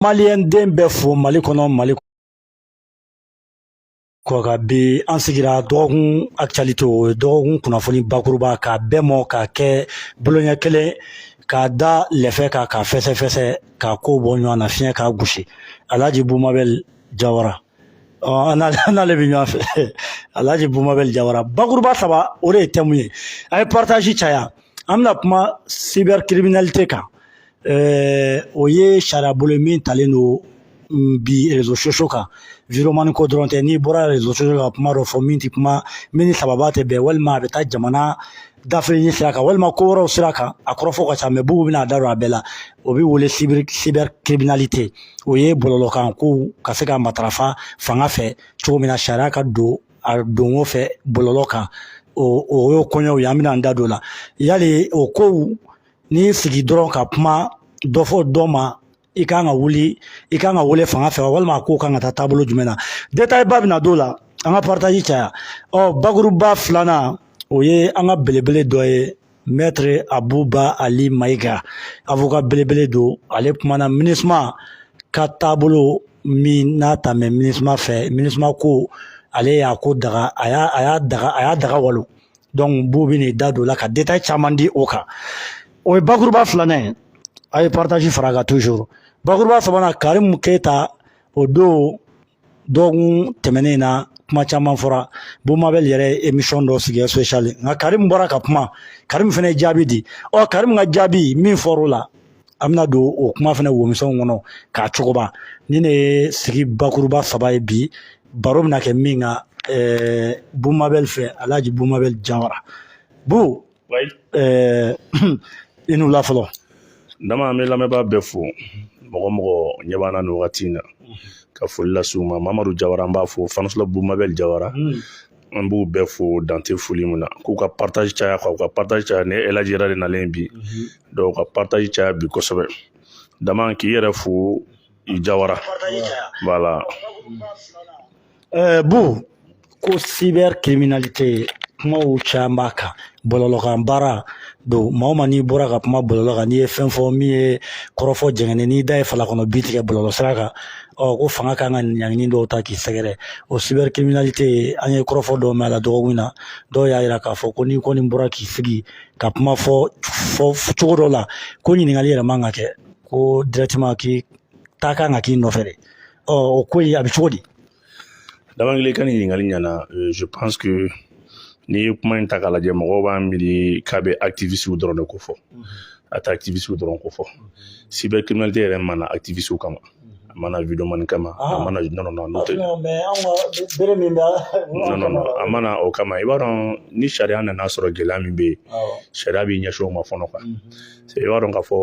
maliyɛn den bɛɛ fo mali kɔnɔ mali kɔkan bi an sigira dɔgɔkun actualité o ye dɔgɔkun kunnafoni bakuruba k'a bɛɛ mɔ k'a kɛ boloɲɛ kelen k'a da lɛfɛ kan k'a fɛsɛfɛsɛ k'a ko bɔ ɲɔgɔn na fiɲɛ k'a gosi alhaji bumabɛl jawara n'ale bɛ ɲɔgɔn fɛ alhaji bumabɛl jawara bakuruba saba o de ye thème ye a ye partage caya an bɛna kuma cybercriminalité kan o ye sariya bolo ye min talen don bi réseaux sociaux kan vidéoman ko dɔrɔn tɛ n'i bɔra réseaux sociaux ka kuma dɔ fɔ min tɛ kuma min ni sababa tɛ bɛn walima a bɛ taa jamana dafiri sira kan walima ko wɛrɛw sira kan a kɔrɔfɔ ka ca mais bubu bɛna a da don a bɛɛ la o bɛ wele cybercriminalité o ye bɔlɔlɔkan ko ka se ka matarafa fanga fɛ cogo min na sariya ka don a donko fɛ bɔlɔlɔ kan o o y'o koɲɛw ye an bɛna an da don o la yali o kow n'i y'i sigi dɔrɔn ka kuma dɔ fɔ dɔ ma i kan ka wuli i kan ka wele fanga fɛ walima a ko kan ka taa taabolo jumɛn na ba bɛna don la an ka partage caya ɔ bakuruba filanan o ye an ka belebele dɔ ye maître abuba ali mayiga avocat belebele don ale kumana minisuma ka taabolo min n'a ta mɛ minisuma fɛ minisuma ko ale y'a ko daga a y'a daga a y'a daga walo donc bu bɛn'i da don o la ka détail caman di o kan o ye bakuruba filanan ye a ye partage fara a kan toujours bakuruba sabanan Karimu Keyita o don dɔgɔkun tɛmɛnen na kuma caman fɔra bumabɛli yɛrɛ ye émission dɔ sigi spécial nka Karimu bɔra ka kuma Karimu fana ye jaabi di ɔ Karimu ka jaabi min fɔra o la an bɛna don o kuma fana womisɛnw kɔnɔ k'a sɔgɔba nin de ye sigi bakuruba saba ye bi baro bɛna kɛ min kan eh, bumabɛli fɛ alhaji bumabɛli jawara bu eh, i ni wula fɔlɔ dama an bɛ lamɛnbaa bɛɛ fo mɔgɔ mɔgɔ ɲɛ b'an na nin wagati in na ka foli lase u ma mamadu jawara an b'a fo fanisula bumabɛli jawara hmm. an b'u bɛɛ fo dan tɛ foli min na k'u ka partage caya ka u ka partage caya ni alhaji yɛrɛ de nalen bi donc u ka partage caya bi kosɛbɛ dama k'i yɛrɛ fo i jawara voilà bu ko cybercriminalité kumaw caman b'a kan bɔlɔlɔkan baara don maa o maa n'i bɔra ka kuma bɔlɔlɔ kan n'i ye fɛn fɔ min ye kɔrɔfɔ jɛngɛnen n'i da ye fala kɔnɔ bin tigɛ bɔlɔlɔ sira kan ɔ ko fanga kan ka ɲangili dɔw ta k'i sɛgɛrɛ o cybercriminalité an ye kɔrɔfɔ dɔw mɛn a la dɔgɔkun na dɔw y'a jira k'a fɔ ko n'i kɔni bɔra k'i sigi ka kuma fɔ fɔ cogo dɔ la ko ɲininkali yɛrɛ man ka kɛ ko directement k'i ta kan ka k'i nɔfɛ de ɔ o ko in a bɛ cogo di dama n k'ile ka nin ɲininkali ɲɛna euh, je pense que n'i ye kuma in ta k'a lajɛ mɔgɔw b'a miiri k'a bɛ activistes dɔrɔn de ko fɔ a tɛ activistes dɔrɔn ko fɔ cybercriminalité yɛrɛ ma na activistes kama a ma na videoman kama a ma na nɔnɔ na n'o tɛ bere min bɛ nɔnɔ a ma na o kama i b'a dɔn ni sariya nana sɔrɔ gɛlɛya min bɛ yen sariya b'i ɲɛsin o ma fɔlɔ quoi i b'a dɔn k'a fɔ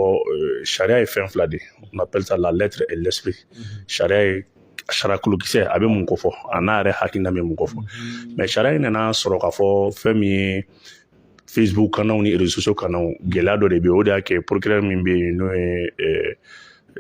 sariya ye fɛn fila de ye on appelle ça la lettre et l'esprit sariya ye sariya kolokisɛ a bɛ mun ko fɔ an'a yɛrɛ hakilina bɛ mun ko fɔ mais sariya in nana sɔrɔ k'a fɔ fɛn min ye facebook kannaw ni réseaux sociaux kannaw gɛlɛya dɔ de bɛ yen o de y'a kɛ procureur min bɛ yen n'o ye eh,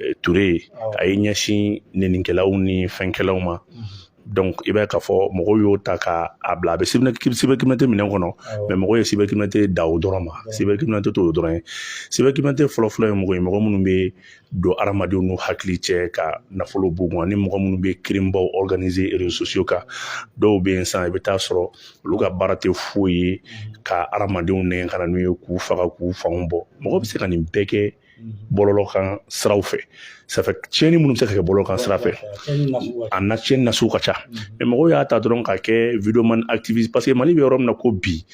eh, ture ye a ye ɲɛsin nenikɛlaw ni fɛnkɛlaw ma mhm. donc i b'a ye k'a fɔ mɔgɔw y'o ta k'a bila a bɛ cybercriminalité minɛn kɔnɔ mais mɔgɔw ye cybercriminalité da o dɔrɔn ma cybercriminalité t'o dɔrɔn ye cybercriminalité fɔlɔfɔlɔ ye mɔgɔ ye mɔgɔ minnu bɛ don adamadenw n'u hakili cɛ ka nafolo b'u kun ani mɔgɔ minnu bɛ crime baw réseau kan dɔw bɛ yen sisan i bɛ taa sɔrɔ olu ka baara tɛ foyi ye ka adamadenw nɛgɛn ka na n'u ye k'u faga k'u fanw bɔ mɔgɔ bɛ se ka nin bɛɛ kɛ bɔlɔlɔ kan siraw fɛ ça fait tiɲɛni minnu bɛ se ka kɛ bɔlɔlɔ kan sira fɛ a na tiɲɛni nasugu ka ca mais mɔgɔw y'a ta dɔrɔn k'a kɛ videoman activiste parce que mali bɛ yɔrɔ min na ko bi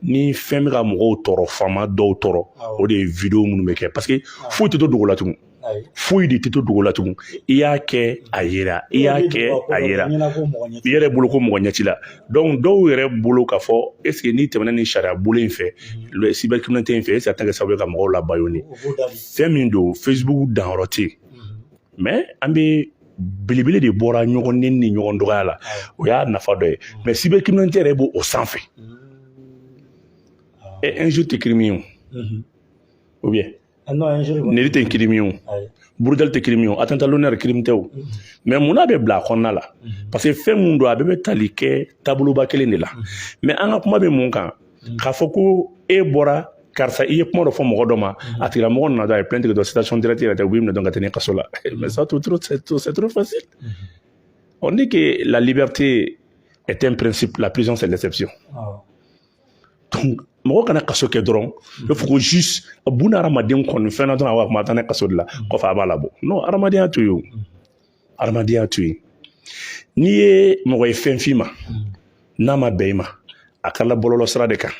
ni fɛn bɛ ka mɔgɔw tɔɔrɔ faama dɔw tɔɔrɔ o de ye video minnu bɛ kɛ parce que foyi tɛ to dogo la tugun foyi de tɛ to dogo la tugun i y'a kɛ a yera i y'a kɛ a yera i yɛrɛ bolo ko mɔgɔ ɲɛ t'i la donc dɔw yɛrɛ bolo k'a fɔ est-ce que n'i tɛmɛna ni sariya bolo in fɛ cybercriminalité in fɛ est-ce a tɛ kɛ sababu ye ka mɔgɔw la bâillonner fɛn min don facebook danyɔrɔ tɛ yen mais an bɛ belebele de bɔra ɲɔgɔn neni ni ɲɔgɔn dɔgɔya la o y'a nafa dɔ ye mais cybercriminalité yɛrɛ b'o o sanfɛ e injure tɛ crime ye o ou bien neni tɛ crime ye burujali tɛ crime ye atteinte à l'honneur crime tɛ o mais mun na a bɛ bila a kɔnɔna la parce que fɛn mun don a bɛɛ bɛ tali kɛ taaboloba kelen de la mais an ka kuma bɛ mun kan k'a fɔ ko e bɔra karisa i ye kuma dɔ fɔ mɔgɔ dɔ ma a tigilamɔgɔ nana dɔrɔn a ye plainte kɛ dɔrɔn citation directe yɛrɛ tɛ u b'i minɛ dɔrɔn ka taa n'i ye kaso la mais ça c'est trop c'est trop c'est trop facile on dit que la liberté est un principe la prison c'est l'exception oh. mɔgɔ kana kaso kɛ dɔrɔn i fɔ ko juste bun adamaden kɔni fɛn na dɔrɔn a b'a kuma taa n'a ye kaso de la kɔfɛ a b'a labɔ non adamadenya to yen adamadenya to yen n'i ye mɔgɔ ye fɛn f'i ma n'a ma bɛn i ma a kɛra bɔlɔlɔ sira de kan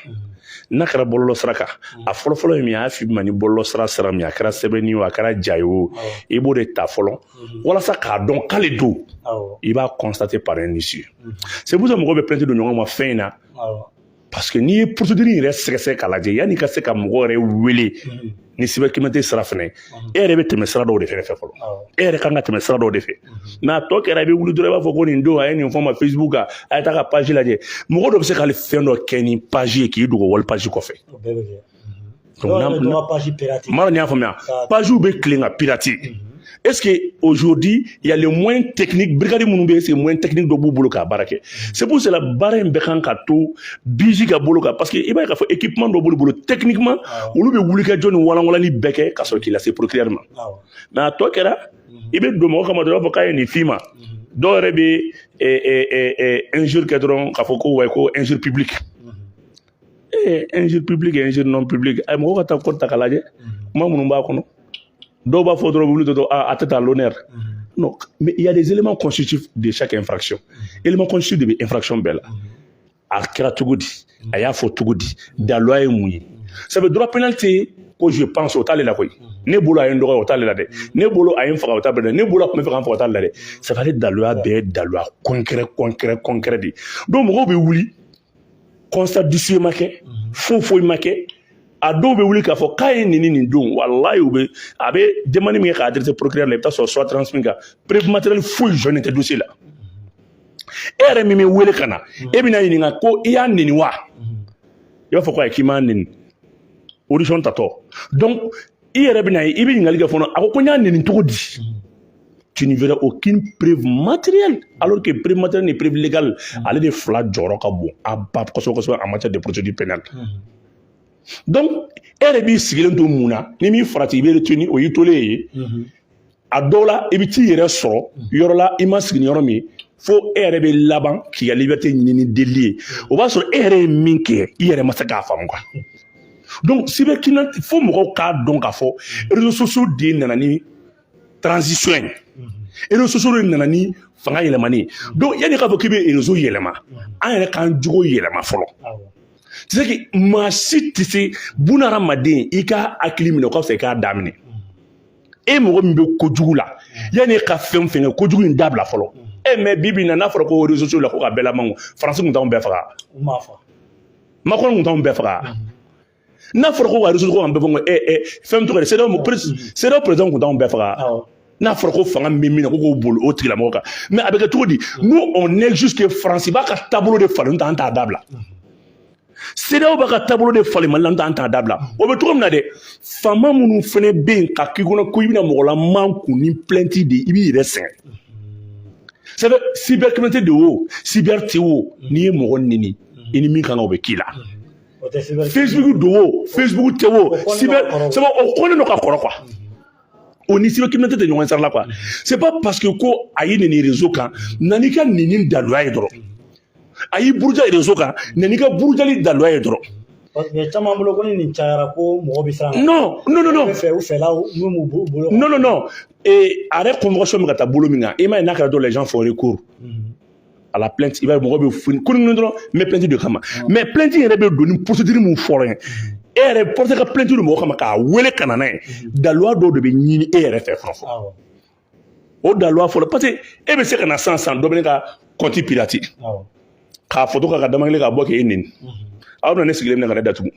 n'a kɛra bɔlɔlɔ sira kan a fɔlɔfɔlɔ ye min y'a f'i ma ni bɔlɔlɔ sira sira min a kɛra sɛbɛnni o a kɛra ja ye o i b'o de ta fɔlɔ mhm. walasa k'a dɔn k'ale don i b'a constater par un huissier c'est pour ça mɔgɔw bɛ plainte don ɲɔgɔn ma fɛn in na parce que n'i ye procédure yɛrɛ sɛgɛsɛgɛ k'a lajɛ yanni i ka se ka mɔgɔ yɛrɛ wele mhm. ni cybercriminalité sira fɛnɛ ye mhm. e yɛrɛ bɛ tɛmɛ sira dɔw de fɛ fɔlɔ e yɛrɛ kan ka tɛmɛ sira dɔw de fɛ mais a tɔ kɛra i bɛ wuli dɔrɔn i b'a fɔ ko nin don a ye nin fɔ ma facebook kan a ye taa ka page lajɛ mɔgɔ dɔ bɛ se k'ale fɛn dɔ kɛ ni page ye k'i dogo wali page kɔfɛ Mara y'a faamuya pagew bɛ tilen ka piraté est-ce que aujourd'hui il y a les moyens brigade minnu bɛ est-ce que moyens techniques dɔ b'u bolo k'a baara kɛ c'est pour cela baara in bɛɛ kan ka to BIJ ka bolo kan parce que i b'a fɔ équipement dɔ b'olu bolo techniquement olu bɛ wulikajɔ ni walanwalanni bɛɛ kɛ ka sɔrɔ k'i lase procureur ma nka tɔ kɛra i bɛ don mɔgɔ kama dɔrɔn i b'a fɔ k'a ye nin f'i ma dɔw yɛrɛ bɛ injure kɛ dɔrɔn k'a fɔ ko wa ko injure publique ee injure publique et injure non publique a ye mɔgɔw ka taa code ta k'a lajɛ kuma minnu b'a kɔnɔ dɔw b'a fɔ dɔrɔn wuli dɔrɔn atteinte à l'honneur non mais il y a des éléments constitutifs de chaque infraction élément constitutif de bɛ infraction bɛɛ la a kɛra cogo di a y'a fɔ cogo di daliluya ye mun ye ça veut droit pénal tɛ yen ko je pense o t'ale la koyi ne bolo a ye n dɔgɔya o t'ale la dɛ ne bolo a ye n faga o t'ale la dɛ ne bolo a tun bɛ fɛ ka n faga o t'ale la dɛ ça veut dire daliluya bɛɛ ye daliluya concret concret concret de ye donc mɔgɔw bɛ wuli constat d'huissier ma kɛ mhm. foyi foyi ma kɛ a dɔw bɛ wuli k'a fɔ k'a ye n neni nin don walayi u bɛ a bɛ demande min kɛ k'a adressé procureur la i bɛ taa sɔrɔ soit transmis kan preuve matérielle foyi jɔlen tɛ dossier la e yɛrɛ min bɛ wele ka na mhm. e bɛna ɲininka ko i y'a neni wa mhm. i b'a fɔ ko ayi k'i m'a neni audition tatɔ donc i yɛrɛ bɛna ye i bɛ ɲininkali kɛ fɔlɔ a ko ko n y'a neni cogo di tu ne verras aucune preuve matérielle alors que preuve matérielle ni preuve légale mm. ale de fila jɔyɔrɔ ka bon a ba kosɛbɛ kosɛbɛ en matière de procédure pénale mm. donc e yɛrɛ b'i sigilen to mun na n'i m'i farati i bɛ retenu o y'i tolen ye mm-hmm. a dɔw la i bɛ t'i yɛrɛ sɔrɔ yɔrɔ la i ma sigi ni yɔrɔ min fo e yɛrɛ bɛ laban k'i ka liberté ɲini ni delili ye o b'a sɔrɔ e yɛrɛ ye min kɛ i yɛrɛ ma se k'a faamu quoi donc cybercriminalité fo mɔgɔw k'a dɔn k'a fɔ réseaux sociaux de nana ni transition ye réseaux sociaux de nana ni fanga yɛlɛmani ye donc yanni k'a fɔ k'i bɛ réseau yɛlɛma an yɛrɛ k'an jogo yɛlɛma fɔlɔ c'est que maa si tɛ se bunahadamaden i ka hakili minɛ o ka fisa i k'a daminɛ e mɔgɔ min bɛ kojugu la yanni e ka fɛn o fɛn kɛ kojugu in dabila fɔlɔ e mais bi bi in na n'a fɔra ko réseaux sociaux la ko ka bɛɛ lamankun faransi tun t'anw bɛɛ faga Macron tun t'anw bɛɛ faga n'a fɔra ko ka réseaux ko ka bɛɛ fɔ e e fɛn min tɔgɔ ye CEDEAO CEDEAO président tun t'anw bɛɛ faga n'a fɔra ko fanga min bɛ min na ko k'o boli o tigilamɔgɔ kan mais a bɛ kɛ cogo di nous on est juste que faransi b'a ka taabolo de falen t'an t'a dabila CEDEAO b'a ka taabolo de falen mali la n t'an t'a dabila o bɛ cogo min na dɛ faama minnu fana bɛ yen k'a k'i kɔnɔ ko i bɛna mɔgɔ lamankun ni plainte de i b'i yɛrɛ sɛgɛn c'est vrai cybercriminalité de wo cyber tɛ wo n'i ye mɔgɔ neni i ni min kan ka o bɛ k'i la facebook don wo facebook tɛ wo cyber c'est vrai o kɔnnen don ka kɔrɔ quoi o ni cybercriminalité tɛ ɲɔgɔn sira la quoi c'est pas parce que ko a y'i neni réseau kan na n'i ka neni daluya ye dɔrɔn a y'i buruja réseau kan na n'i ka burujali daluya ye dɔrɔn mais caman bolo ko ni nin cayara ko mɔgɔ bɛ siran non non non non fɛ u fɛlaw n'u b'u bolo non non non a yɛrɛ convocation bɛ ka taa bolo min kan i m'a ye n'a kɛra dɔrɔn les gens font recours à la plainte i b'a ye mɔgɔ bɛ foni ko ni dɔrɔn n bɛ plainte d'e kama mais plainte yɛrɛ bɛ don ni procédure min fɔlɔ ye e yɛrɛ porte ka plainte don mɔgɔ kama k'a wele ka na n'a ye daluya dɔw de bɛ ɲini e yɛrɛ fɛ fɔlɔ fɔlɔ o daluya fɔlɔ parce que e bɛ se ka na sansan dɔ bɛ ne ka compte pirater k'a foto ka ka damakele k'a bɔ k'e neni aw bɛna ne sigilen minɛ ka ne datugu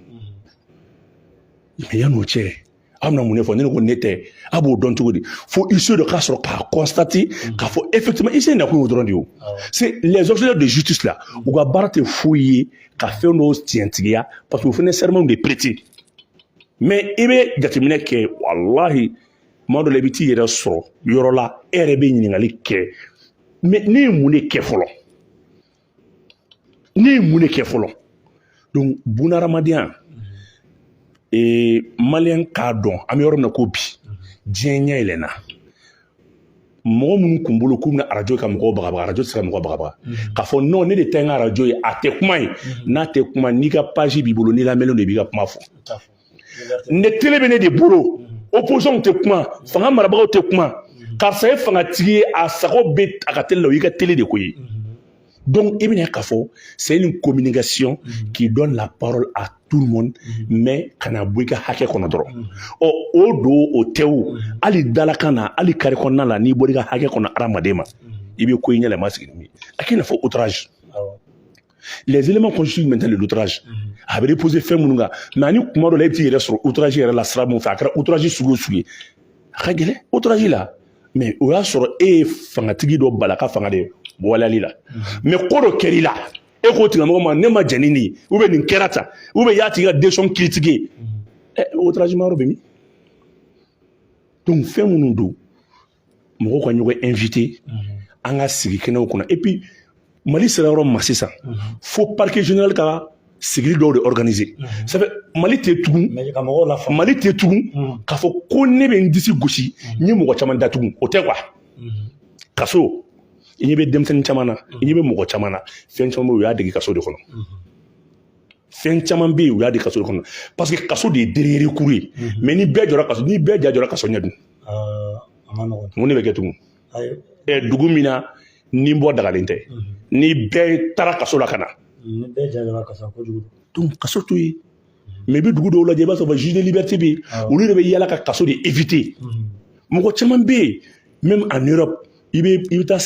mais yan'o cɛ aw bɛna mun de fɔ ne ko ne tɛ a b'o dɔn cogo di fo huissier dɔ ka sɔrɔ k'a constater k'a fɔ effectivement huissier nakun y'o dɔrɔn de ye c'est les huissiers de justice là u ka baara tɛ foyi ye ka fɛn dɔw tiɲɛtigiya parce que o fana serment de prêter mais i bɛ jateminɛ kɛ walahi kuma dɔ la i bɛ t'i yɛrɛ sɔrɔ yɔrɔ la e yɛrɛ bɛ ɲininkali kɛ mais ne ye mun de kɛ fɔlɔ ne ye mun de kɛ fɔlɔ donc bunahadamadenya ee malien k'a dɔn an bɛ yɔrɔ min na ko bi diɲɛ ɲɛ yɛlɛnna mɔgɔ minnu kun bolo k'u bɛna arajo ka mɔgɔw bagabaga arajo tɛ se ka mɔgɔ bagabaga mhm. k'a fɔ non ne de ta ye n ka arajo ye a tɛ kuma yen mhm. n'a tɛ kuma n'i ka page b'i bolo n'i lamɛnlen don i b'i ka kuma fɔ ne télé bɛ ne de bolo opposition tɛ kuma fanga marabagaw tɛ kuma karisa ye fangatigi ye a sago bɛ a ka télé la o y'i ka télé de ko ye donc i bɛn'a ye k'a fɔ c'est une communication qui donne la parole à tout le monde mais kana bɔ i ka hakɛ kɔnɔ dɔrɔn ɔ o don o tɛ o hali dalakan na hali carré kɔnɔna la n'i bɔra i ka hakɛ kɔnɔ hadamaden ma i bɛ ko y'i ɲɛ la i ma sigi ni min ye a k'i n'a fɔ outrage les éléments constituant maintenant le l'outrage a bɛ reposer fɛn minnu kan mais ani kuma dɔ la e bɛ t'i yɛrɛ sɔrɔ outrage yɛrɛ la sira min fɛ a kɛra outrage sugu o sugu ye a ka gɛlɛn outrage la mais o y'a sɔrɔ e ye fangatigi dɔ bal'a ka fanga de ye waleyali la mais ko dɔ kɛr'i la e k'o tigilamɔgɔ ma ne ma jɛn ni nin ye ou bien nin kɛra tan ou bien i y'a tigi ka décision critiquer ɛ outrage mayɔrɔ bɛ min donc fɛn minnu don mɔgɔw ka ɲɔgɔn inviter an ka sigi kɛnɛw kɔnɔ et puis mali sera yɔrɔ ma sisan fo parquet général ka sigili dɔw de organiser ça fait mali tɛ tugun mali tɛ tugun k'a fɔ ko ne bɛ n disi gosi n ye mɔgɔ caman datugu o tɛ quoi kaso i ɲɛ bɛ denmisɛnnin caman na i ɲɛ bɛ mɔgɔ caman na fɛn caman bɛ yen u y'a dege kaso de kɔnɔ fɛn caman bɛ yen u y'a dege kaso de kɔnɔ parce que kaso de ye dernier recours ye mais ni bɛɛ jɔra kaso ni bɛɛ ja jɔra kaso ɲɛ dun mun de bɛ kɛ tugun dugu min na ni bɔ dagalen tɛ ni bɛɛ taara kaso la ka na kaso to yen mais i bɛ dugu dɔw lajɛ i b'a sɔrɔ juge des libertés bɛ yen olu de bɛ yala ka kaso de éviter mɔgɔ caman bɛ yen même en Europe i bɛ i bɛ taa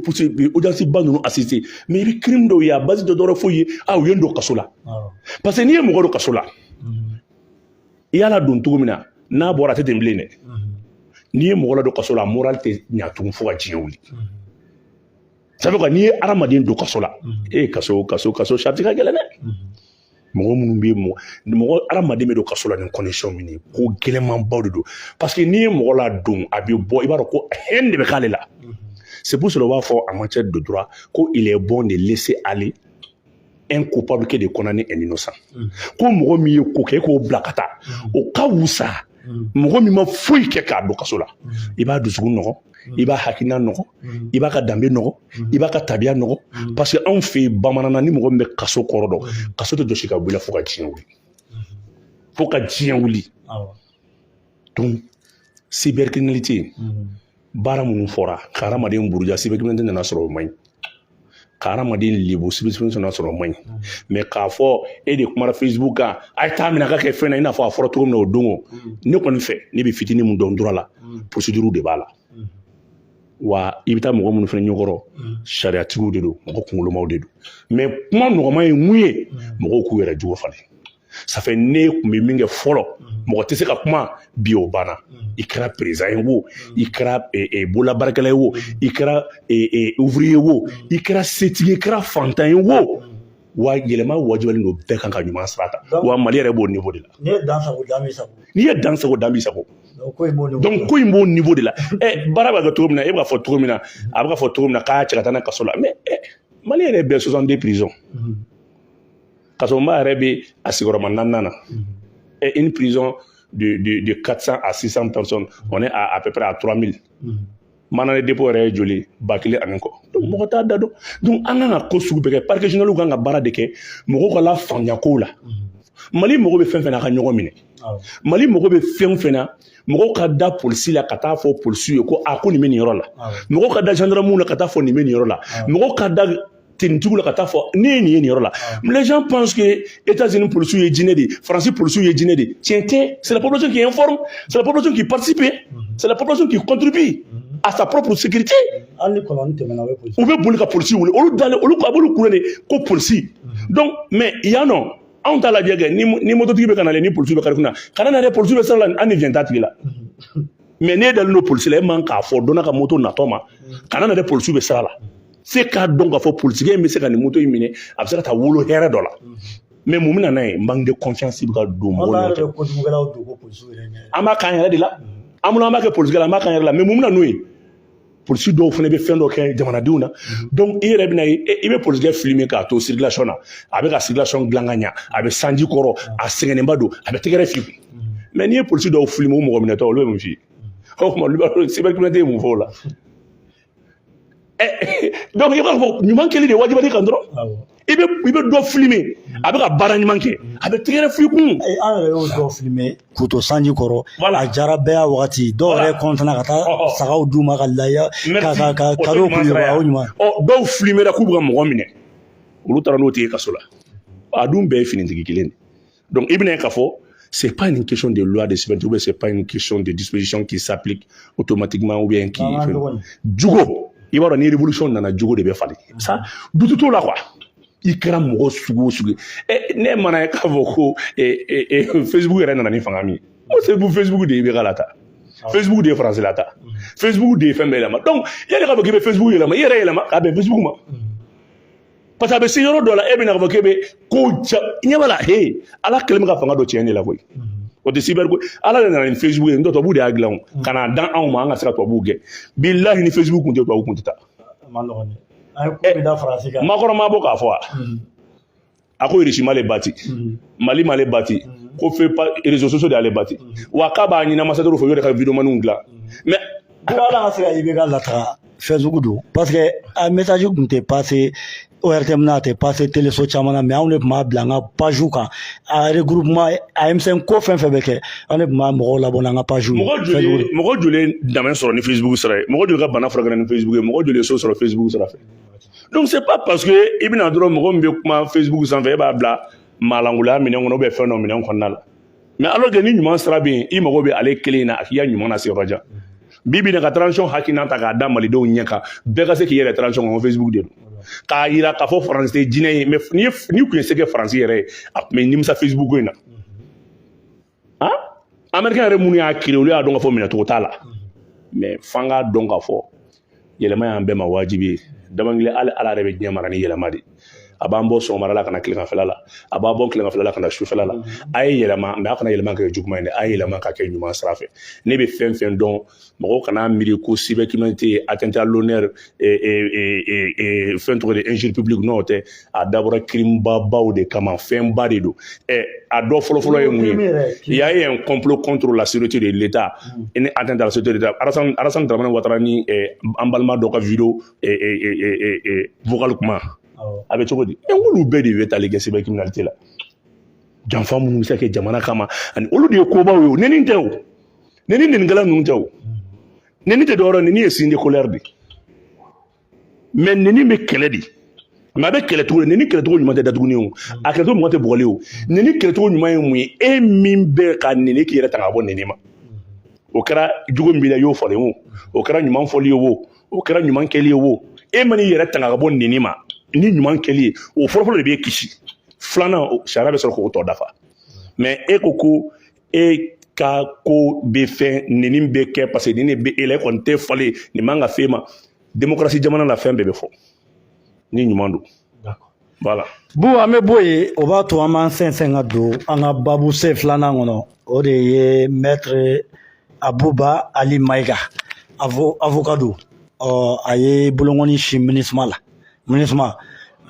procès audience ba ninnu assister mais i bɛ crime dɔw ye a base dɔ dɔrɔn foyi ye a u ye n don kaso la parce que n'i ye mɔgɔ don kaso la i y'a ladon cogo min na n'a bɔra a tɛ ten bilen dɛ n'i ye mɔgɔ ladon kaso la moral tɛ ɲa tugun fo ka diɲɛ wuli ça veut dire n'i ye hadamaden don kaso la e ye kaso kaso kaso sariti ka gɛlɛn dɛ mɔgɔ minnu bɛ mɔgɔ mɔgɔ hadamaden bɛ don kaso la ni condition min ye ko gɛlɛnmanbaw de don parce que n'i ye mɔgɔ ladon a bɛ bɔ i b'a dɔn ko haine de bɛ k'ale la c'est pour cela u b'a fɔ en matière de droit ko il est bon de laisser aller un coupable que de condamner un innocent mm. ko mɔgɔ min ye ko kɛ e k'o bila ka taa mm. o ka wusa mm. mɔgɔ min ma foyi kɛ k'a don kaso la i b'a dusukun nɔgɔ i b'a hakilina nɔgɔ i b'a ka danbe nɔgɔ i b'a ka tabiya nɔgɔ parce que anw fɛ yen bamananna ni mɔgɔ min bɛ kaso kɔrɔ dɔn kaso tɛ jɔsi ka bɔ i la fo ka diɲɛ wuli fo ka diɲɛ wuli donc cybercriminalité baara minnu fɔra ka hadamaden buruja cybercriminalité nana sɔrɔ o man ɲi ka hadamaden lebu cybercriminalité nana sɔrɔ o man ɲi mais k'a fɔ e de kumara facebook kan a ye taa minɛ ka kɛ fɛn na i n'a fɔ a fɔra cogo min na o don o ne kɔni fɛ ne bɛ fitinin min dɔn droit la procédure de b'a la wa i bɛ taa mɔgɔ minnu fana ɲɛkɔrɔ sariyatigiw de don mɔgɔ kunkolomaw de don mais kuma nɔgɔma ye mun ye mɔgɔw k'u yɛrɛ jogo falen ça fait ne kun bɛ min kɛ fɔlɔ mm. mɔgɔ tɛ se ka kuma bi o banna mm. i kɛra président ye wo mm. i kɛra eh, eh, bololabaarakɛla ye wo i kɛra eh, ouvrier ye wo i kɛra setigi ye i kɛra fantan ye wo wa yɛlɛma wajibalen don bɛɛ kan ka ɲuman sira ta wa mali yɛrɛ b'o niveau de la n'i ye dan sago dan b'i sago donc ko in b'o niveau de la ɛ baara bɛ kɛ cogo min na e b'a fɔ cogo min na a bɛ ka fɔ cogo min na k'a cɛ ka taa n'a kaso la mais mali yɛrɛ bɛɛ 62 prisons kasoba yɛrɛ bɛ a sigiyɔrɔma naaninan na ɛ une prison de de de 400 à 600 personnes on est à à peu près à 3000 mandat de dépôt yɛrɛ ye joli ba kelen ani kɔ donc mɔgɔ t'a da dɔn donc an kan ka ko sugu bɛɛ kɛ parquet général kan ka baara de kɛ mɔgɔw ka lafaamuya kow la mali mɔgɔ bɛ fɛn fɛn na a ka ɲɔgɔn minɛ mali mɔgɔ bɛ fɛn fɛn na mɔgɔw ka da polisi la ka taa fɔ polisiw ye ko a ko nin bɛ nin yɔrɔ la mɔgɔw ka da gendarmew la ka taa fɔ nin bɛ nin yɔrɔ la mɔgɔw ka da tenitigiw la ka taa fɔ ne ye nin ye nin yɔrɔ la les gens pensent que États-Unis policiers ye jinɛ de ye France policiers ye jinɛ de ye tiɲɛ tɛ c'est la population qui informe c'est la population qui participe c'est la population qui contribue à sa propre sécurité hali ni kɔlɔn tɛmɛna u bɛ boli ka polisi wele olu dalen olu a b'olu kule de ko polisi donc mais yan nɔ anw t'a lajɛ kɛ ni ni mototigi bɛ ka nalen ni polisi bɛ kare kun na kana na dɛ polisi bɛ sira la an ni jɛn t'a tigi la mais n'e dalen don polisi la e man k'a fɔ donna ka moto natɔ ma kana na dɛ polisi bɛ sira la se k'a dɔn k'a fɔ polisikɛ in bɛ se ka nin moto in minɛ a bɛ se ka taa wolo hɛrɛ dɔ la mais mun bɛ na n'a ye manque de confiance bɛ ka don mɔgɔw la an b'a k'an yɛrɛ de la an miiri an b'a kɛ polisikɛ la an b'a k'an yɛrɛ la mais mun bɛ na n'o ye polisi dɔw fana bɛ fɛn dɔ kɛ jamanadenw na donc i yɛrɛ bɛna ye i bɛ polisikɛ filime k'a to circulation na a bɛ ka circulation dilan ka ɲa a bɛ sanji kɔrɔ a sɛgɛnnenba don a bɛ tɛgɛrɛ fili mais n'i ye polisi dɔw filime o mɔgɔ minɛtɔ olu bɛ mun f'i ye o tuma olu b'a dɔn cybercriminalité ye mun fɔ o la donc i b'a fɔ ɲuman kɛli de wajibiyalen i kan dɔrɔn i bɛ i bɛ dɔ filime a bɛ ka baara ɲuman kɛ a bɛ tɛgɛrɛ fili kun an yɛrɛ y'u dɔ filime k'u to sanji kɔrɔ a diyara bɛɛ y'a wagati dɔw yɛrɛ kɔntana ka taa sagaw d'u ma ka ladiya ka ka ka kado k'u ye o ɲuman ɔ dɔw filimera k'u bɛ ka mɔgɔ minɛ olu taara n'o tigi kaso la a dun bɛɛ ye finitigi kelen de donc i bɛna ye k'a fɔ c'est pas une question de loi de cyber ou bien c'est pas une question de disposition qui s'applique automatiquement, ou bien qui. jogo i b'a dɔn ni révolution nana jogo de bɛ falen ça doute t'o la quoi i kɛra mɔgɔ sugu o sugu ye ne mana ye k'a fɔ ko facebook yɛrɛ nana ni fanga min ye o sabu facebook de ye IBK lataa facebook de ye faransi lataa facebook de ye fɛn bɛɛ yɛlɛma donc yanni k'a fɔ k'i bɛ facebook yɛlɛma i yɛrɛ yɛlɛma k'a bɛn facebook ma parce que a bɛ se yɔrɔ dɔ la e bɛna k'a fɔ k'e bɛ ko ja ɲɛ b'a la he ala kɛlen bɛ ka fanga dɔ tiɲɛ de la koyi o tɛ cyber ko ala de nana ni facebook ye n'o tɛ tubabuw de y'a dilan o ka na dan anw ma an ka se ka tubabuw gɛn bilahi ni facebook kun tɛ tubabuw kun tɛ taa a man nɔgɔn dɛ an ye ko bɛɛ da faransi kan Macron ma bɔ k'a fɔ wa a ko irisi m'ale bati mali m'ale bati ko fe pa réseaux sociaux de y'ale bati wa k'a b'a ɲini ambassadeur fɛ u yɛrɛ ka videomaniw dilan mais Dɔw la ka se ka IBK lataga facebook don parce que a message kun tɛ pase ORTM na a tɛ pase teleso caman na mais anw de tun b'a bila an ka paziw kan a regroupement a M5 ko fɛn fɛn bɛ kɛ an de tun b'a mɔgɔw labɔ n'an ka paziw ye mɔgɔ fɛn sugu joli don. mɔgɔ joli ye dɛmɛ sɔrɔ ni facebook sira ye mɔgɔ joli ka bana furakɛra ni facebook ye mɔgɔ joli ye so sɔrɔ facebook sira fɛ donc c'est pas parce que i bɛna dɔrɔn mɔgɔ min bɛ kuma facebook sanfɛ e b'a bila maalankolonya minɛn kɔnɔ ou bien fɛn dɔ minɛn kɔnɔna la mais alors que ni ɲuman sira bɛ yen i mago bɛ ale kelen na a k'i ka ɲuman lase yɔrɔ jan bi bi in na ka transition hakilina ta k'a da malidenw ɲɛ kan bɛɛ ka se k'i yɛrɛ transition kɔnɔ facebook de don k'a yira k'a fɔ faransi tɛ jinɛ ye mais n'i n'i tun ye se kɛ faransi yɛrɛ ye a tun bɛ nimisa facebook ko in na han américain yɛrɛ minnu y'a créer olu y'a dɔn k'a fɔ minɛcogo t'a la mais f'an k'a dɔn k'a fɔ yɛlɛma y'an bɛɛ ma wajibi ye damankili hali ala yɛrɛ bɛ diɲɛ mara ni yɛlɛma de a b'an bɔ sɔgɔmada la ka na tileganfɛla la a b'a bɔ tileganfɛla la ka na sufɛla la a ye yɛlɛma mais a kana yɛlɛma kɛ juguman ye dɛ a ye yɛlɛma ka kɛ ɲuman sira fɛ ne bɛ fɛn fɛn dɔn mɔgɔw kana miiri ko cybercriminalité atteinte à l'honneur fɛn tɔgɔ de injure publique n'o tɛ a dabɔra crime babaw de kama fɛnba de don ɛ a dɔ fɔlɔfɔlɔ ye mun ye y'a ye complot contre la sûreté de l'État ani atteinte à la sûreté de l'État Alassane Dramane Ouattara ni an balima dɔ ka vidéo vocal kuma a bɛ cogo di ɛ olu bɛɛ de bɛ tali kɛ cybercriminalité la janfa minnu bɛ se ka kɛ jamana kama ani olu de ye kobaw ye o nɛni tɛ o nɛni nɛnikɛla ninnu tɛ o nɛni tɛ dɔwɛrɛ nɛni ye signe de colère de mais nɛni bɛ kɛlɛ dɛ mais a bɛ kɛlɛ cogo di nɛni kɛlɛcogo ɲuman tɛ datuguni o a kɛlɛcogo ɲuman tɛ bugɔli o nɛni kɛlɛcogo ɲuman ye mun ye e min bɛ ka nɛni k'i yɛrɛ tanga ka bɔ nɛni ma o kɛra jugu min b'i la i y'o falen o o kɛra ɲuman fɔli ye o o kɛra ɲuman kɛli ye o e man'i yɛrɛ tanga ka bɔ nɛni ma ni ɲuman kɛli ye o fɔlɔfɔlɔ de b'e kisi filanan sariya bɛ sɔrɔ k'o tɔ dafa mais e ko ko e ka ko bɛ fɛn nɛni bɛ kɛ parce que nin de bɛ e la e kɔni tɛ falen nin man ka f'e ma demokarasi jamana na fɛn bɛɛ bɛ fɔ ni ɲuman don voilà bu an bɛ bɔ yen o b'a to an b'an sɛnsɛn ka don an ka babu sen filanan kɔnɔ o de ye maître abuba ali mayiga avoka don ɔ a ye bolokɔni sin minisuma la MINUSMA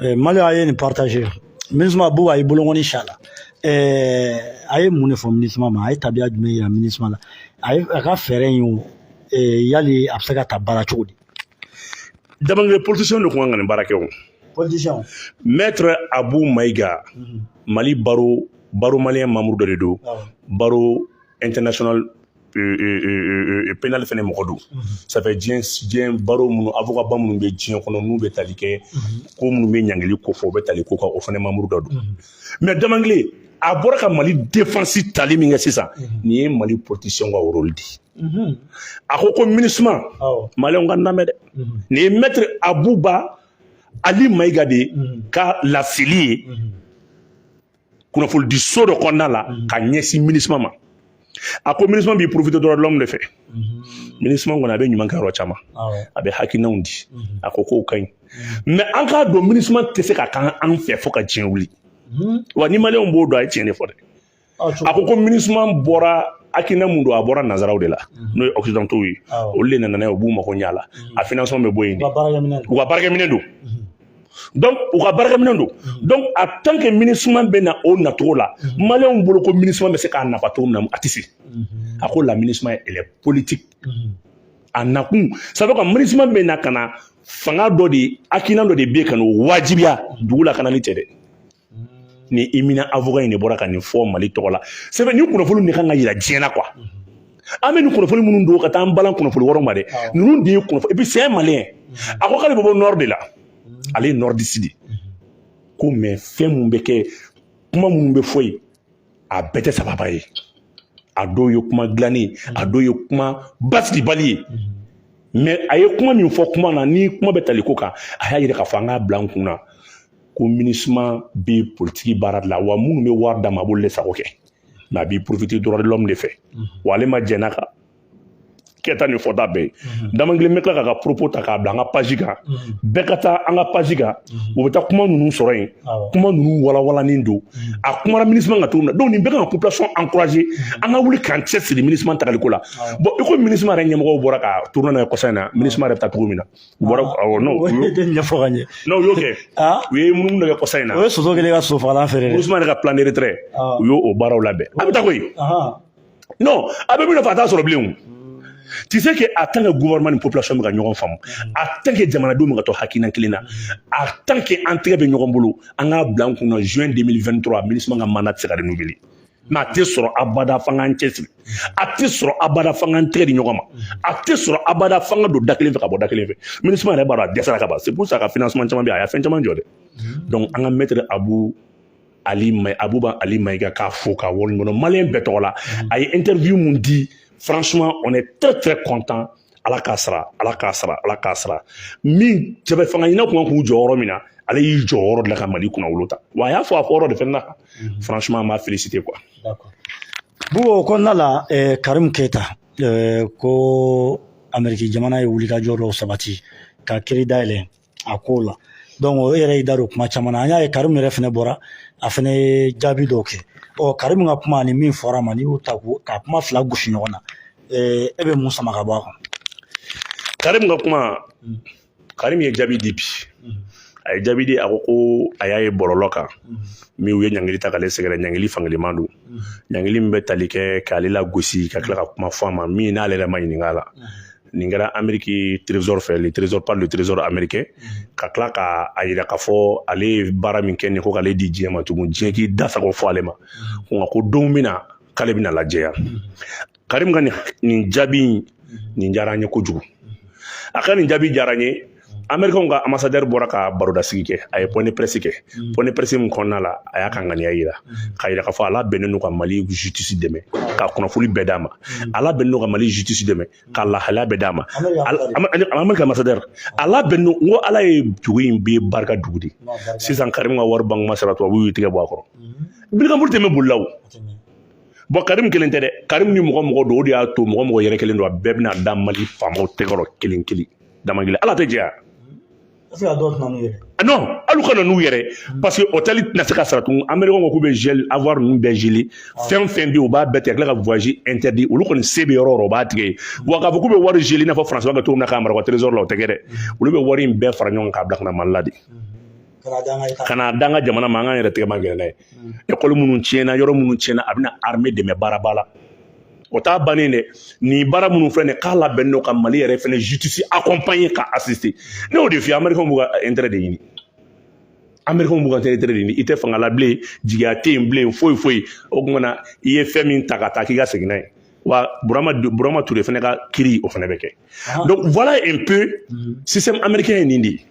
eh, Mali a ye nin partager MINUSMA bu a ye bolonkɔni sin a la eh, a ye mun de fɔ MINUSMA ma a ye tabiya jumɛn yira MINUSMA la a ye a ka fɛɛrɛ in o eh, yali a bɛ se ka ta baara cogo di Damangile politicien de tun kan ka nin baara kɛ o politicien maître Abu Mayiga mhm. Mali barreau barreau malien membre dɔ de don barreau international pénal fana mɔgɔ don ça fait diɲɛ diɲɛ barreau minnu avocat ba minnu bɛ diɲɛ kɔnɔ n'u bɛ tali kɛ ko minnu bɛ ɲangili ko fɔ u bɛ tali ko kan o fana membre dɔ don mais damankile a bɔra ka mali defansi tali min kɛ sisan nin ye mali politisiyɛnw ka rôle di a ko ko minisuma maliyɛnw k'a lamɛn dɛ nin ye maître abuba ali mayiga de ka laseli ye kunnafonidi so dɔ kɔnɔna la mhm. ka ɲɛsin minisuma ma a ko minisuma b'i profiter droit de l'homme de fɛ mhm. minisuma kɔni a bɛ ɲuman kɛ yɔrɔ caman a bɛ hakilinanw di mhm. a ko k'o ka ɲi mais an k'a dɔn minisuma tɛ se ka kɛ an fɛ fo ka diɲɛ wuli wa ni maliyɛnw b'o dɔn a ye tiɲɛ de fɔ dɛ a ko ko minisuma bɔra hakilina mun don a bɔra nanzaraw de la n'o ye occidentaux ye olu de nana n'a ye u b'u mago ɲɛ a la a financement bɛ bɔ yen de u ka baarakɛminɛ don donc u ka baarakɛminɛn don donc en tant que MINUSMA bɛ na o nacogo la maliyɛnw bolo ko MINUSMA bɛ se k'a nafa cogo min na a tɛ se a ko la MINUSMA elle est politique a nakun ça veut dire que MINUSMA bɛ na ka na fanga dɔ de hakilina dɔ de bɛ ka n'o wajibiya dugu la ka na ni cɛ dɛ ni éminent avocat in de bɔra ka nin fɔ mali tɔgɔ la c'est vrai ni kunnafoni de kan ka yira diɲɛ na quoi an bɛ nin kunnafoni minnu don ka taa an balan kunnafoni wɛrɛw ma dɛ ninnu de ye kunnafoni et puis c'est un malien a ko k'ale bɛ bɔ nord de la ale ye nordiste de ko mais fɛn minnu bɛ kɛ kuma minnu bɛ fɔ yen a bɛɛ tɛ sababa ye a dɔw ye kuma dilannen a dɔw ye kuma basigibali ye mais a ye kuma min fɔ kuma na ni kuma bɛ tali ko kan a y'a yira k'a fɔ an k'a bila an kun na ko MINUSMA bɛ politiki baara de la wa minnu bɛ wari d'a ma a b'olu de sago kɛ mais a b'i profiter droit de l'homme de fɛ wa ale ma jɛn'a kan kɛta ni fɔta bɛɛ ye dama kelen bɛ tila k'a ka propos ta k'a bila an ka page kan bɛɛ ka taa an ka page kan u bɛ taa kuma ninnu sɔrɔ yen kuma ninnu walawalanin don a kumara MINUSMA kan cogo min na donc nin bɛɛ kan ka population encourager an ka wuli k'an cɛ siri MINUSMA tagali ko la bon i ko MINUSMA yɛrɛ ɲɛmɔgɔw bɔra ka tourner n'a ye kɔsa in na MINUSMA yɛrɛ bɛ taa cogo min na U bɔra awɔ n'o o y'o tɛ ɲɛfɔ ka ɲɛ non u y'o kɛ u ye munumunu dɔ kɛ kɔsa in na o ye soso kɛlen ye ka soso fagalan feere dɛ MINUSMA yɛrɛ ka plan de retrait u y'o o baaraw labɛn a bɛ taa koyi non a bɛ min nɔfɛ a t'a sɔrɔ bilen o tu sais que en tant que gouvernement ni population bɛ ka ɲɔgɔn faamu en tant que jamanadenw bɛ ka to hakilina kelen na en tant que an tɛgɛ bɛ ɲɔgɔn bolo an k'a bila an kun na juin 2023 MINUSMA ka mandat tɛ se ka renouveler mais a tɛ sɔrɔ abada f'an k'an cɛsiri a tɛ sɔrɔ abada f'an k'an tɛgɛ di ɲɔgɔn ma a tɛ sɔrɔ abada f'an ka don da kelen fɛ ka bɔ da kelen fɛ MINUSMA yɛrɛ b'a dɔn a dɛsɛra ka ban c'est pour ça ka financement caman bɛ a y'a fɛn caman jɔ dɛ donc an ka maître abu ali may abuba ali mayiga k'a fo k'a waleɲuman dɔn maliyɛn bɛɛ tɔgɔ la a ye interview mun di franchement on est très très content ala k'a sara ala k'a sara ala k'a sara min cɛbɛ fanga ɲina kun k'u jɔyɔrɔ min na ale y'i jɔyɔrɔ de la ka mali kunnawolo ta wa a y'a fɔ a fɔyɔrɔ de fɛnɛ na mhm. franchement an b'a féliciter quoi bugo o kɔnɔna la eh, karim keyita eh, ko ameriki jamana ye wulikajɔ dɔw sabati ka kiiri dayɛlɛ a ko la donc o yɛrɛ y'i da don kuma caman na an y'a ye karim yɛrɛ fɛnɛ bɔra a fɛnɛ ye jaabi dɔw kɛ ɔ karim ka kuma ani min fɔra a ma n'i y'u ta ko ka kuma fila gosi ɲɔgɔn na e bɛ mun sama ka bɔ a kɔnɔ karim ka kuma karim ye jaabi di bi a ye jaabi di a ko ko a y'a ye bɔlɔlɔ kan min u ye ɲangili ta k'ale sɛgɛrɛ ɲangili fankeleman don ɲangili min bɛ tali kɛ k'ale lagosi ka tila ka kuma fɔ a ma min n'ale yɛrɛ ma ɲininka a la nin kɛra ameriki trésor fɛ le trésor par le trésor américain mhm. ka tila ka a yira k'a fɔ ale ye baara min kɛ nin ko k'ale di diɲɛ ma tugun diɲɛ k'i da sago fɔ ale ma mhm. nka ko don min na k'ale bɛna lajɛya mhm. karim ka nin jaabi nin diyara an ye kojugu a ka nin jaabi diyara n ye amerikɛnw ka ambassadeur bɔra ka barodasigi kɛ a ye point de presse kɛ mm. point de presse min kɔnɔna la a y'a ka ŋaniya yira mm. k'a yira k'a fɔ a labɛnnen don ka mali justice dɛmɛ mm. ka kunnafoni bɛɛ d'a ma a labɛnnen don ka mali justice dɛmɛ ka lahalaya bɛɛ d'a ma amerika ambassadeur a labɛnnen don ko ala ye dugu in bɛ barika dugu de sisan karimu ka wari banque ma sara tubabu y'u tigɛ bɔ a kɔrɔ birikampuru tɛ bɛ bolila o bɔn karimu kelen tɛ dɛ karimu ni mɔgɔ mɔgɔ don o de y'a to mɔgɔ mɔgɔ yɛrɛ kelen don a bɛɛ bɛna da mali faamaw tɛgɛrɔ kelen kelen dama kelen ala tɛ jɛya non alu kana n'u yɛrɛ parce que hôtel tɛna se ka sara tugun américain ko k'u bɛ gel avoir ninnu bɛɛ geler fɛn fɛn bɛ yen u b'a bɛɛ tigɛ ka tila ka voyage interdit olu kɔni se bɛ yɔrɔ o yɔrɔ u b'a tigɛ yen wa k'a fɔ k'u bɛ wari geler i n'a fɔ france b'a kɛ cogo min na k'a mara u ka trésor la o tɛ kɛ dɛ olu bɛ wari in bɛɛ fara ɲɔgɔn kan k'a bila ka na mali la de ka na d'an ka jamana ma an k'an yɛrɛ tɛgɛ ma gɛrɛ n'a ye mm. école minnu tiɲɛna yɔrɔ minnu tiɲɛna a bɛna armée dɛmɛ baaraba la o t'a bannen dɛ nin baara minnu filɛ nin k'a labɛnnen don ka mali yɛrɛ fɛnɛ justice accompagner ka assister ne y'o de f'i ye américain b'u ka intérêt de ɲini américain b'u ka intérêt de ɲini i tɛ fanga la bilen jigiya tɛ yen bilen foyi foyi o tuma na i ye fɛn min ta ka taa k'i ka segin n'a ye wa burama burama ture fɛnɛ ka kiiri o fɛnɛ bɛ kɛ donc voilà un peu système américain ye nin de ye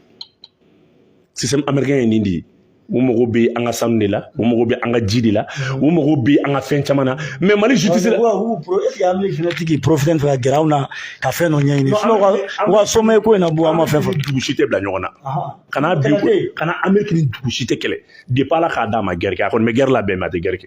système américain ye nin de ye u mago bɛ an ka sanu de la u mago bɛ an ka ji de la u mago bɛ an ka fɛn caman na mais mali justice la tigi profiter fɛ ka gɛrɛ anw na ka fɛn dɔ ɲɛɲini u ka sommet ko in na bu an ma fɛn fɔ dugu si tɛ bila ɲɔgɔn na kana bi kana ameriki ni dugu si tɛ kɛlɛ depuis ala k'a d'a ma guerre kɛ a kɔni bɛ guerre labɛn mais a tɛ guerre kɛ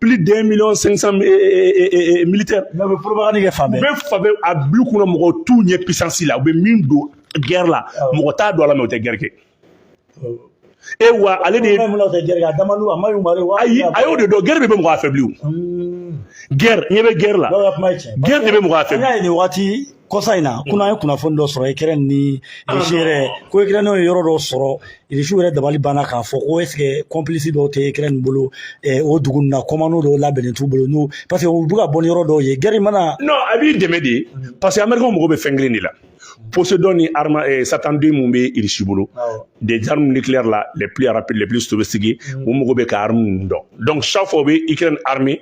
plus d'un million cinq cent eh, eh, eh, militaire bɛ propagande kɛ fan bɛɛ bɛ fan bɛɛ a bulu kɔnɔ mɔgɔ t'u ɲɛ puissance la u bɛ min don guerre la mɔgɔ t'a dɔn a la mais u tɛ guerre kɛ e wa ale de ye a y'o de dɔn guerre de bɛ mɔgɔ affaibli o guerre ɲɛ bɛ guerre la guerre de bɛ mɔgɔ affaibli kɔsa in na kunna an ye kunnafoni dɔ sɔrɔ ukraine ni irisi yɛrɛ ko ukraine o ye yɔrɔ dɔ sɔrɔ irisiw yɛrɛ dabali banna k'a fɔ ko est-ce que complice dɔw tɛ ukraine bolo o dugu ninnu na commando dɔw labɛnnen t'u bolo non parce que u bɛ ka bɔ ni yɔrɔ dɔw ye guerre mana. non a b'i dɛmɛ de parce que amerikɛnw mago bɛ fɛn kelen de la poséidon ni arme eh, satan deux min bɛ irisi bolo des armes nucléaires la les plus rapides les plus sophistiquées u mago bɛ ka armes ninnu dɔn donc chaque fois u bɛ ukraine armer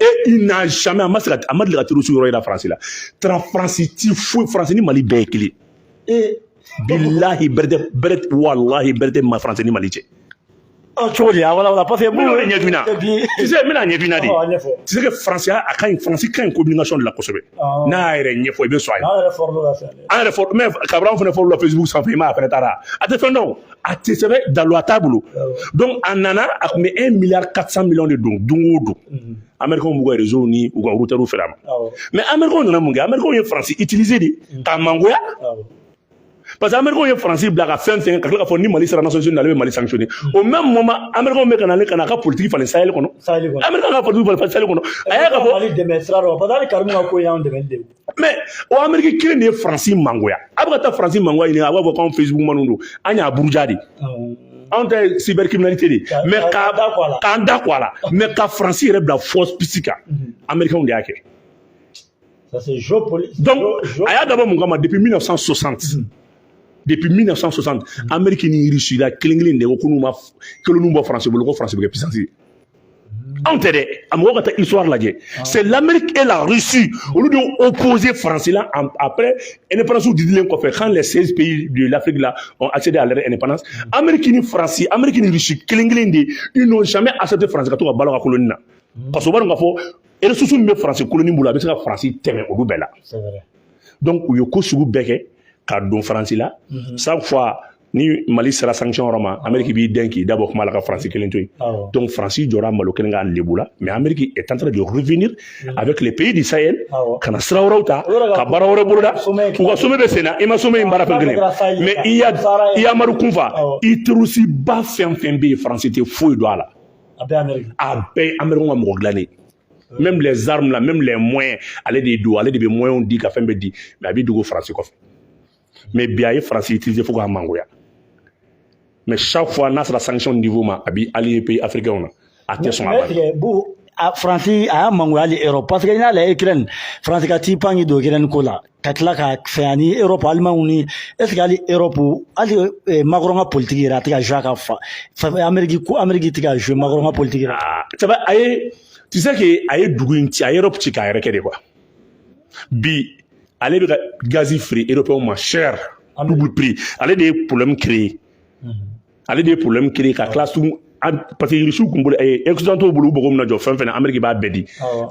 et il n'a jamais a ma se ka a ma deli ka terroriste yɔrɔ yira faransi la tara faransi tɛ foyi faransi ni mali bɛɛ ye kelen ye bilahi bɛrɛ tɛ bɛrɛ tɛ walahi bɛrɛ tɛ ma faransi ni mali cɛ cogo di a wala wala parce que minnu bɛ ɲɛdun na tu sais n bɛna ɲɛdun na de tu sais que faransi a ka ɲi faransi ka ɲi communication de la kosɛbɛ n'a y'a yɛrɛ ɲɛfɔ i bɛ sɔn a ye an yɛrɛ fɔlɔ la an yɛrɛ fɔlɔ mais kabila fana fɔlɔ la facebook sanfɛ i m'a fana taara a tɛ fɛn dɔn a tɛ sɛbɛn daluya t'a bolo donc a nana a tun bɛ un milliard quatre cent millions de don don o don amɛrikɛnw b'u ka réseau ni u ka routeurs feere a ma mais amɛrikɛnw nana mun kɛ amɛrikɛnw ye faransi utiliser de k'a mangoya parce que amɛrikɛnw ye faransi bila ka fɛn fɛn ka tila k'a fɔ ni mali sera nations unies na ale bɛ mali sanctionner au même moment amɛrikɛnw bɛ ka na ale ka na a ka politique falen sahel kɔnɔ amɛrikɛnw ka politique falen sahel kɔnɔ a y'a ka fɔ mali dɛmɛ sira dɔ parce que hali karimu ka ko y'an dɛmɛ de mais o ameriki kelen de ye faransi mangoya a bɛ ka taa faransi mangoya ɲini a b'a fɔ k'anw facebook manw don an y'a buruja de anw ta ye cybercriminalité de mais k'an da ko a la mais ka faransi yɛrɛ bila force pisi kan amerikɛnw de y'a kɛ donc a y'a dabɔ mun kama depuis 1960 depuis 1960 ameriki ni russie là kelen kelen de ko ko n'u ma koloniw bɔ faransi bolo ko faransi bɛ kɛ puissance ye anw tɛ dɛ a mɔgɔ ka taa histoire lajɛ c'est l'amérique et la russie olu de y'u opposé faransi la après indépendance didilen kɔfɛ quand les 16 pays de l'afrique là ont accédé à leur indépendance amérique ni faransi amérique ni russie kelen kelen de ils n'ont jamais accepté faransi ka to ka balo ka koloni na parce que u b'a dɔn k'a fɔ ressource min bɛ faransi koloni bolo a bɛ se ka faransi tɛmɛ olu bɛɛ la donc u ye ko sugu bɛɛ kɛ ka don faransi la chaque fois ni mali sera sanction yɔrɔ ma ameriki b'i den k'i dabɔ kuma la ka faransi kelen to yen donc faransi jɔra malo kelen ka lebu la mais ameriki est en train de revenir mm. avec les pays du sahel ka na sira wɛrɛw ta ka baara wɛrɛ boloda u ka sommet bɛ sen na i ma sommet in baara fɛn kelen mais iyad iyad amadu kufa i terroristeba fɛn fɛn bɛ yen faransi tɛ foyi dɔn a la a bɛɛ ye ameriki ka mɔgɔ dilannen même les armes là même les moyens ale de don ale de bɛ moyens di ka fɛn bɛɛ di mais a bɛ dogo faransi kɔfɛ mais bi a ye faransi utiliser fo k'a mangoya mais chaque fois n'a sera sanction niveau ma a b'i allié pays africains na a tɛ sɔn a ba faransi a y'a mangoya hali europe parce que n'i y'a lajɛ ukraine faransi ka t'i pan k'i don ukraine ko la ka tila ka fɛn ani europe alimanw ni est ce que hali europe hali eh, macron ka politiki yɛrɛ a tɛ ka jouer a ka fa ameriki ko ameriki tɛ ka jouer macron ka politiki yɛrɛ ah, a ye tu sais que a ye dugu in ci a ye europe ci k'a yɛrɛ kɛ de quoi bi ale bɛ ka gazi feere européenw ma cher double prix ale de ye problème créé ale de ye problème créé ka tila sugu parce que irisiw kun bolo ɛɛ occidentaux bolo u mago mana jɔ fɛn fɛn na ameriki b'a bɛɛ di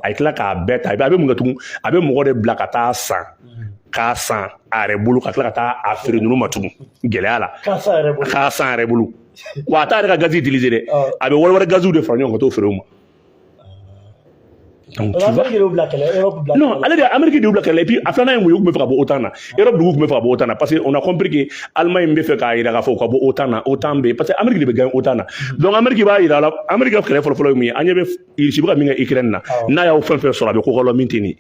a ye tila k'a bɛɛ ta i b'a a bɛ mun kɛ tugun a bɛ mɔgɔ de bila ka taa san k'a san a yɛrɛ bolo ka tila ka taa a feere ninnu ma tugun gɛlɛya la k'a san a yɛrɛ bolo wa a t'a yɛrɛ ka gazi utiliser dɛ a bɛ wari wɛrɛ gaziw de fara ɲɔgɔn kan ka t'o feere u ma Donc, tu vois... Non, ale Amérique de b'o kɛlɛ et puis a filanan ye mun ye u tun bɛ fɛ ka bɔ OTAN na Europe dugu tun bɛ fɛ ka bɔ OTAN na parce que on a compris que Allemagne bɛ fɛ k'a jira k'a fɔ u ka bɔ OTAN na OTAN bɛ yen parce que Amérique de bɛ gagner OTAN na donc Amérique b'a jira a la Amérique ka kɛlɛ fɔlɔfɔlɔ ye mun ye aw ɲɛ bɛ Russie bɛ ka min kɛ Ukraine na n'a y'aw fɛn fɛn sɔrɔ a bɛ ko k'aw la min tɛ nin ye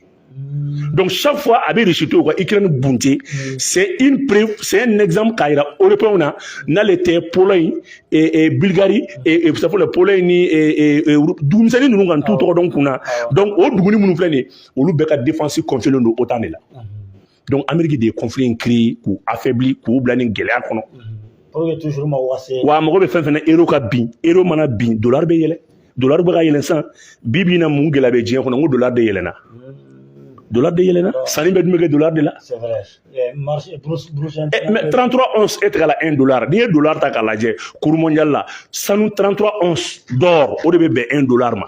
Donc chaque fois a bɛ réussite u ka Ukraine bunte mm. c'est une preuve c'est un exemple k'a yira européens na n'ale tɛ Pologne et, et Bulgarie et, et ça faut la Pologne ni et, et, dugumisɛnnin ninnu k'an t'u tɔgɔ dɔn kun na donc o duguni minnu filɛ nin ye olu bɛɛ ka défense confierlen don OTAN de la. donc ameriki de ye conflit in créer k'u affaibli k'u bila nin gɛlɛya kɔnɔ wa mago bɛ fɛn fɛn na euro ka bin euro mana bin dollar bɛ yɛlɛn dollar bɛ ka yɛlɛn sisan bi bi in na mun gɛlɛya bɛ diɲɛ kɔnɔ n ko dollar de yɛlɛnna dollar de yɛlɛnna sanni bɛɛ dun bɛ kɛ dollar de la mais 33 once est égal à 1 dollar n'i ye dollar ta k'a lajɛ cours mondial la sanu 33 once d'or o de bɛ bɛn 1 dollar ma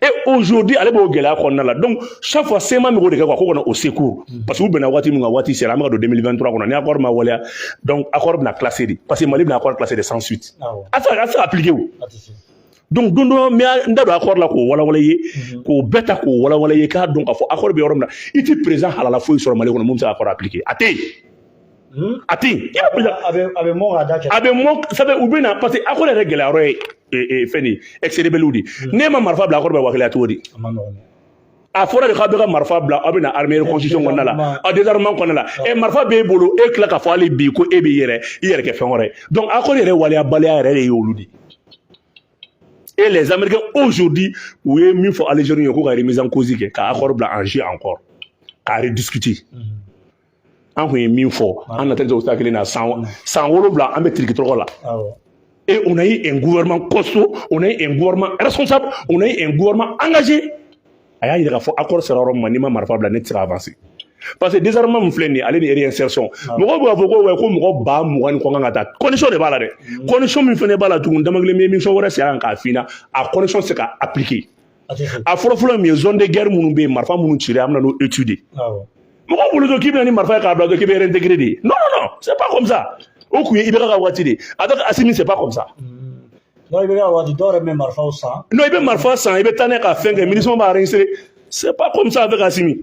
et aujourd'hui ale b'o gɛlɛya kɔnɔna la donc chaque fois CMA min b'o de kɛ quoi k'u ka na au secours mm. parce que u bɛnna waati min kan waati sera an bɛ ka don 2023 kɔnɔ ni accord ma waleya donc accord bɛna classer de parce que mali bɛna accord classer de sans suite ah a tɛ se ka appliquer o donc don dɔ n bɛ n da don accord la k'o walawala aw ye mm-hmm. k'o bɛɛ ta k'o walawala aw ye k'a dɔn k'a fɔ accord bɛ yɔrɔ min na i tɛ président halala foyi sɔrɔ mali kɔnɔ min bɛ se ka accord appliquer a tɛ yen Hmm? a tɛ yen a bɛ mɔn ka da cɛ a bɛ mɔn sabu u bɛ na parce que accord yɛrɛ gɛlɛya yɔrɔ ye fɛn nin ex-rebelles de hmm. n'e ma marifa bila accord bɛ waleya cogo di a fɔra de k'aw bɛɛ ka marifa bila aw bɛ na armée constitution kɔnɔna la aw désarmement kɔnɔna la ɛ marifa b'e bolo e tila k'a fɔ hali bi ko e b'i yɛrɛ i yɛrɛ kɛ fɛn wɛrɛ ye donc accord yɛrɛ waleyabaliya yɛrɛ de ye olu de et les américains aujourd'hui u ye min fɔ algérie ye ko ka remise en cause kɛ ka accord bila en jeu encore k'a rediscuter mm -hmm. an kun ye min fɔ an natɛli tɛ o sira kelen na san san wolonwula an bɛ tirikitɔrɔkɔ la et on a eu un gouvernement costaud on a eu un gouvernement responsable on a eu un gouvernement engagé a y'a yira k'a fɔ accord sera yɔrɔ min ma n'i ma marifa bila ne tɛ se ka avancer parce que désarmement min filɛ nin ye ale ni réinsertion mɔgɔw bɛ k'a fɔ ko ouais ko mɔgɔ ba mugan ni kɔ kan ka ta condition de b'a la dɛ condition min fana b'a la tugun damankile n bɛ émission wɛrɛ sigi a kan k'a f'i ɲɛna a condition tɛ se ka appliquer a fɔlɔ fɔlɔ min ye zone de guerre minnu bɛ yen marifa minnu cili an bɛ na n'o étude ye mɔgɔ bolo to k'i bɛ na ni marifa ye k'a bila k'i bɛ réintégrer de non non non c'est pas comme ça o kun ye IBK ka waati de ye avec Asimi c'est pas comme ça. non IBK ka waati dɔw yɛrɛ bɛ marifaw san. non i bɛ marifa san i bɛ taa n'a ye ka fɛn kɛ MINUSMA b'a réinsérer c'est pas comme ça avec Asimi.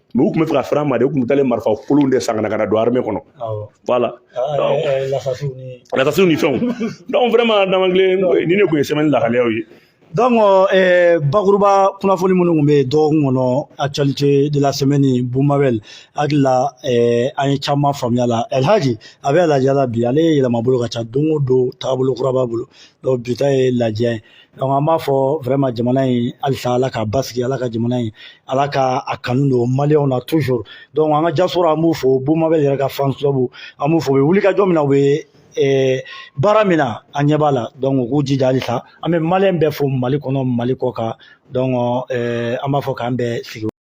mais u tun bɛ fɛ ka fara ma de u tun bɛ taa marifa kolon de san ka na ka na don armée kɔnɔ voilà lasasiw ni fɛnw donc vraiment damankile nin de tun ye semaine lahaliyaw ye donc eh, bakuruba kunnafoni minnu tun bɛ yen dɔgɔkun kɔnɔ actualité de la semaine bumabɛl n hakili la eh, an ye caman faamuya a la elhaji a bɛ lajiya la bi ale ye yɛlɛma bolo ka ca don o don taabolo kura b'a bolo donc bi ta ye lajiya donc an b'a fɔ vraiment jamana in halisa ala ka basigi ala ka jamana in ala ka a kanu don maliyɛnw na toujours donc an ka diaspora an b'u fo bumabɛl yɛrɛ ka fan club an b'u fo u bɛ wulikajɔ min na u bɛ eh, baara min na an ɲɛ b'a la donc u k'u jija halisa an bɛ maliyɛn bɛɛ fo mali kɔnɔ mali kɔ kan donc eh, an b'a fɔ k'an bɛɛ sigi